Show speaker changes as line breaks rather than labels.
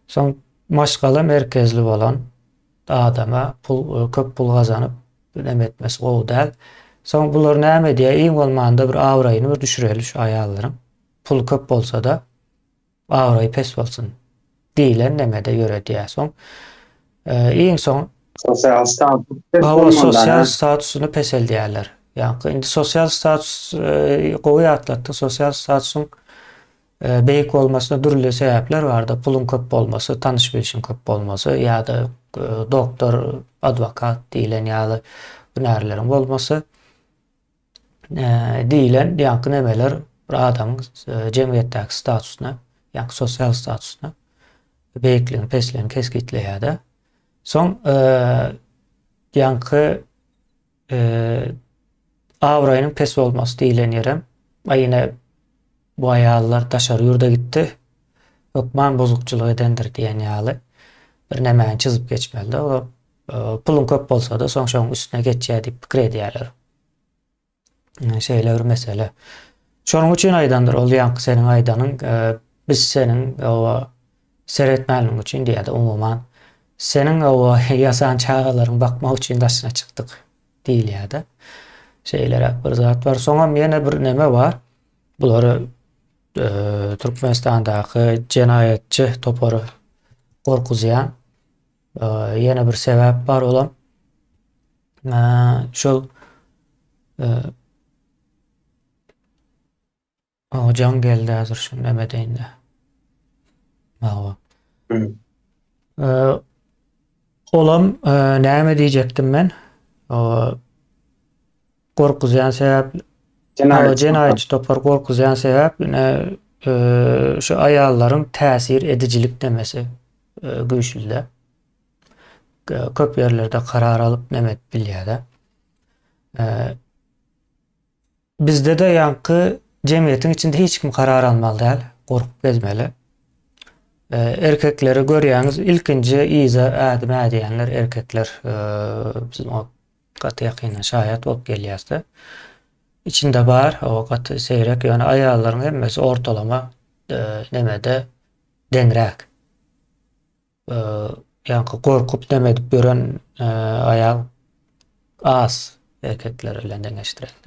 Soň maşgala merkezli bolan adama pul köp pul gazanyp näme etmesi gowy däl. Soň bular näme edýär? Iň bolmanda bir abraýyny bir düşüreli şu aýallaryň. Pul köp bolsa-da abraýy pes bolsun diýlen nemede ýöredýär. Soň iň soň sosial
status pes bolmanda sosial
statusyny
peseldýärler.
Ýa indi sosial status gowy ýatlatdy. Sosial statusyň Beýik bolmasyna dürli sebäpler bardyr, puluň köp bolmasy, tanyş bilşiň köp bolmasy ýa-da doktor, adwokat diýilen ýaly hünärleriň bolmasy diýilen ýaňky nemeler bir adamyň jemgyýetdäki statusyna, ýaňky sosial statusyna beýikligini, pesligini kesgitleýär-de. Soň ýaňky Abraýynyň pes bolmasy diýlen ýerem, aý ine bu aýallar daşary ýurda gitdi, hökman bozukçylyk edendir diýen ýaly bir nämäni çyzyp geçmelide we puluň köp bolsada soň şoň üstüne geçýär diýip pikir edýärler. Şeýle bir mesele. Şonuň üçin aýdandyr ol ýaňky seniň aýdanyň biz seniň oba Seretmänligiň üçin diýýärdi, umuman, seniň o ýasan çagalaryňy bakmak üçin daşyna çykdyk diýilýärdi. Şeýleräk bir zat bar. Soňam ýene bir neme bar. Bulary e, Türkmenistandaky jenaýatçy topary gorkuzýan e, ýene bir sebäp bar olam. E, şol e, Maňa jaň geldi häzir şu näme deýinde. Mawa. Olam näme diýjekdim men? Gorkuzýan sebäp jenaýatçy topar gorkuzýan sebäp şu aýallaryň täsir edijilik demesi güýçlüde. Köp ýerlerde karar alyp näme edip bilýärde. Bizde-de ýaňky jemgyýetiň içinde hiç kim karar almaly däl, gorkup gezmeli. Erkekleri görýäňiz, ilkinji yza ädim ädýänler erkekler. Biz muňa gaty ýakyndan şaýat bolup gelýäs-de. Içinde bar, o gaty seýrek, ýöne aýallaryň hemmesi ortalama nemede deňräk. Ýaňky gorkup neme edip ýören aýal az erkekler bilen deňeşdirende.